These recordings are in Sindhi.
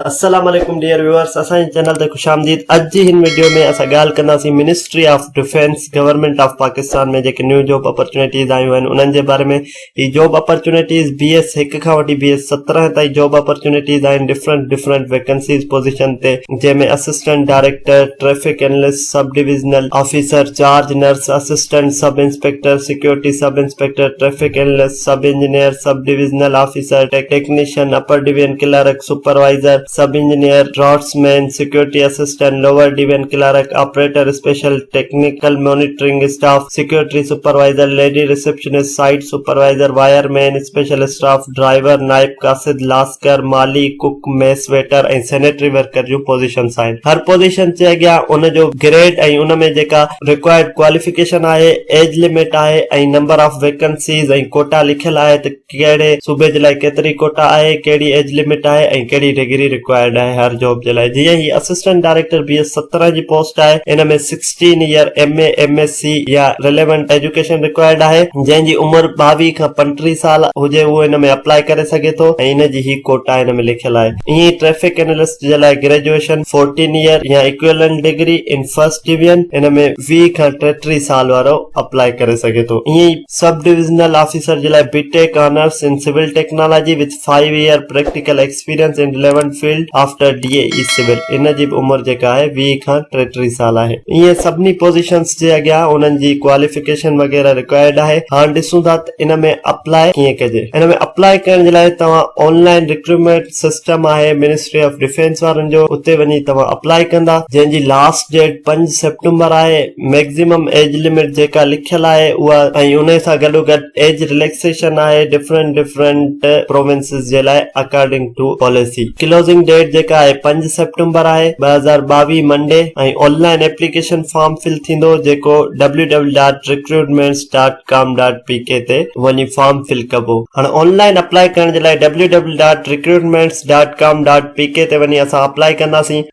السلام عليڪم ڊيئر ويوئرس اسان جي چينل تي خوش آمديد اڄ جي هن وڊيو ۾ اسان ڳالهه ڪنداسين ministry of defence government of Pakistan ۾ جيڪي نيو جاب اپرچونيٽيز آيون آهن انهن جي باري ۾ هي جاب اپرچونيٽيز بي ايس هڪ کان وٺي بي ايس سترهن تائين جاب اپرچونيٽيز آهن ڊفرنٽ ڊفرنٽ ويڪنسيز پوزيشن تي جنهن ۾ assistant director traffic analyst sub divisional officer charge nurse assistant sub inspector security sub inspector traffic analyst sub engineer, sub divisional officer, technician, upper division clerk, supervisor, sub engineer, draftsman, security assistant, lower division clerk, operator special, technical monitoring staff, security supervisor, lady receptionist, site supervisor, wireman, special staff, driver, نائب قاصد، لاسڪر، مالي، cook, mess waiter ۽ sanitary worker جون پوزيشنس آهن. هر پوزيشن جي اڳيان ان جو گريڊ ۽ ان ۾ جيڪا ريڪوائرڊ ڪواليفڪيشن آهي، ايج لمٽ آهي ۽ نمبر آف ويڪنسيز ۽ ڪوٽا لکيل آهي ته ڪهڙي صوبي جي لاء ڪيتري ڪوٽا آهي، ڪهڙي ايج لمٽ آهي ۽ ڪهڙي ڊگري ريڪوائرڊ آهي هر جاب جي لاء جيئن هي اسسٽنٽ ڊائريڪٽر بي ايس سترهن جي پوسٽ آهي ان ۾ sixteen year M A, M S C يا رليونٽ ايجوڪيشن ريڪوائرڊ آهي. جنهن جي عمر ٻاويهه کان پنٽيهه سال هجي اهو ان ۾ اپلائي ڪري سگهي ٿو ۽ ان جي هي ڪوٽا ان ۾ لکيل آهي ائين ئي ٽريفڪ اينلسٽ، جي لاء گريجوئيشن، فورٽين ايئر يا equivalent degree in first division, ان ۾ ويهه کان ٽيٽيهه سال وارو اپلائي ڪري سگهي ٿو. ائين ئي سب ڊويزنل آفيسر جي لاء B tech honours in civil technology with five year practical experience in relevant field after D A E civil, ان جي به عمر جيڪا آهي ويهه کان ٽيٽيهه سال آهي. ائين سڀني پوزيشنز جي اڳيان انهن جي ڪواليفڪيشن وغيره رڪوائرڊ آهي. هاڻ ڏسون ٿا ته. ان ۾ اپلاء ڪيئن ڪجي ان ۾ اپلاء ڪرڻ جي لاء توهان آن لائن رڪروٽمينٽ سسٽم آهي منسٽري آف ڊفينس وارن جو اتي وڃي توهان اپلاء ڪندا جنهن جي لاسٽ ڊيٽ پنج سيپٽمبر آهي ميڪزيمم ايج لمٽ جيڪا لکيل آهي اها ۽ ان سان گڏو گڏ ايج رليڪسيشن آهي ڊفرنٽ ڊفرنٽ پروونسز جي لاء according to policy closing date جيڪا آهي پنج سيپٽمبر آهي ٻه هزار ٻاويهه منڊي ۽ online application form fill ٿيندو جيڪو www.recruitments.in com dot P K تي وڃي فارم فل ڪبو هاڻي آن لائن اپلائي ڪرڻ جي لاء W W dot recruitments dot com dot P K تي وڃي اسان اپلائي ڪنداسين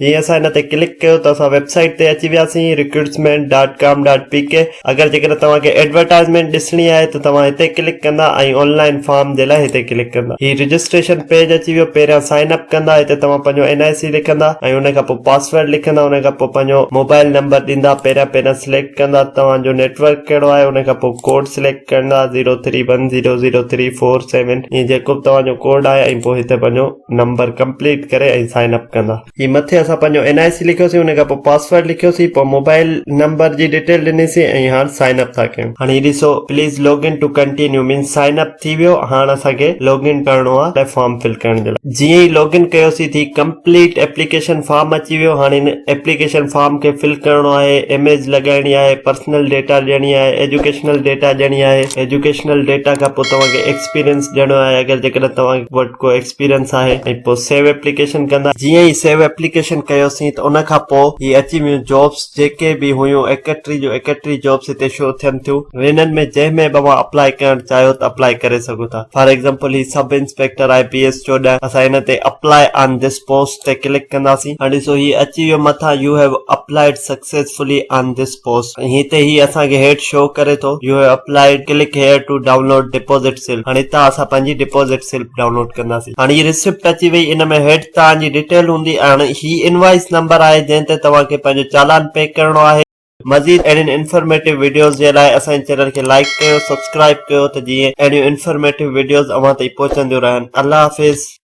جي اسان هن تي ڪلڪ ڪيو ته اسان ويب سائيٽ تي اچي وياسين recruitment dot com dot P K اگر جيڪڏهن توهان کي ايڊورٽائزمينٽ ڏسڻي آهي ته توهان هتي ڪلڪ ڪندا ۽ آن لائن فارم جي لاء هتي ڪلڪ ڪندا هي رجسٽريشن پيج اچي ويو پهريان سائن اپ ڪندا هتي توهان پنهنجو اين آء سي لکندا ۽ ان کان پوء پاسورڊ لکندا ان کان پوء پنهنجو موبائل نمبر ڏيندا پهريان پهريان سليڪٽ ڪندا توهان جو نيٽورڪ ڪهڙو آهي ان کان پوء ڪوڊ سليڪٽ ڪندا zero three one zero zero three four seven ائين جيڪو به توهان جو ڪوڊ آهي ۽ پوء هتي پنهنجو نمبر ڪمپليٽ ڪري ۽ سائن اپ ڪندا جي مٿي اسان پنهنجو اين آء سي لکيوسين ان کان پوء پاسورڊ لکيوسين پوء موبائل نمبر جي ڊيٽيل ڏنيسين ۽ هاڻ سائن اپ ٿا ڪيون هاڻي هي ڏسو please log in to continue means sign up ٿي ويو هاڻ اسان کي لوگ ان ڪرڻو آهي لاء فارم فل ڪرڻ جي لاء جيئن ئي لوگ ان ڪيوسي ٿي ڪمپليٽ ايپليڪيشن فارم اچي ويو هاڻي هن ايپليڪيشن فارم کي فل ڪرڻو آهي اميج لڳائڻي آهي پرسنل ڊيٽا ڏيڻي آهي ايجوڪيشنل ڊيٽا ڏيڻي آهي ايجوڪيشنل ڊيٽا کان پوء توهان کي ايڪسپيرينس ڏيڻو آهي اگر جيڪڏهن توهان وٽ ڪو ايڪسپيرينس آهي ۽ پوء سيو ايپليڪيشن ڪندا جيئن ئي سيو ايپليڪيشن ڪيوسين ته ان کان پوء هي اچي ويون جابس جيڪي به هيون ايڪٽري جون ايڪٽري جابس هتي شو ٿين ٿيون وينن ۾ جنهن ۾ به اوهان اپلائي ڪرڻ چاهيو ته اپلائي ڪري سگهو ٿا فار ايگزامپل هي سب انسپيڪٽر آهي بي ايس چوڏهن اسان هن تي اپلائي آن ڌس پوسٽ تي ڪلڪ ڪنداسين هاڻي ڏسو هي اچي ويو مٿان you have applied successfully on this post هي تي هي اسان کي هيٺ شو ڪري ٿو you have applied click here to download deposit slip هاڻي هتان اسان پنهنجي ڊپوزٽ سلپ ڊائونلوڊ ڪنداسين هاڻي هي رسيپٽ اچي وئي ان ۾ هيٺ توهان جي ڊيٽيل هوندي ۽ هاڻي هي انوائيس نمبر آهي جنهن تي توهان کي پنهنجو چالان پي ڪرڻو آهي. مزيد اهڙين انفرميٽو وڊيوز جي لاء اسان جي چينل کي لائيڪ ڪيو سبسڪرائيب ڪيو ته جيئن اهڙيون انفرميٽو وڊيوز اوهان تائين پهچنديون رهن الله حافظ.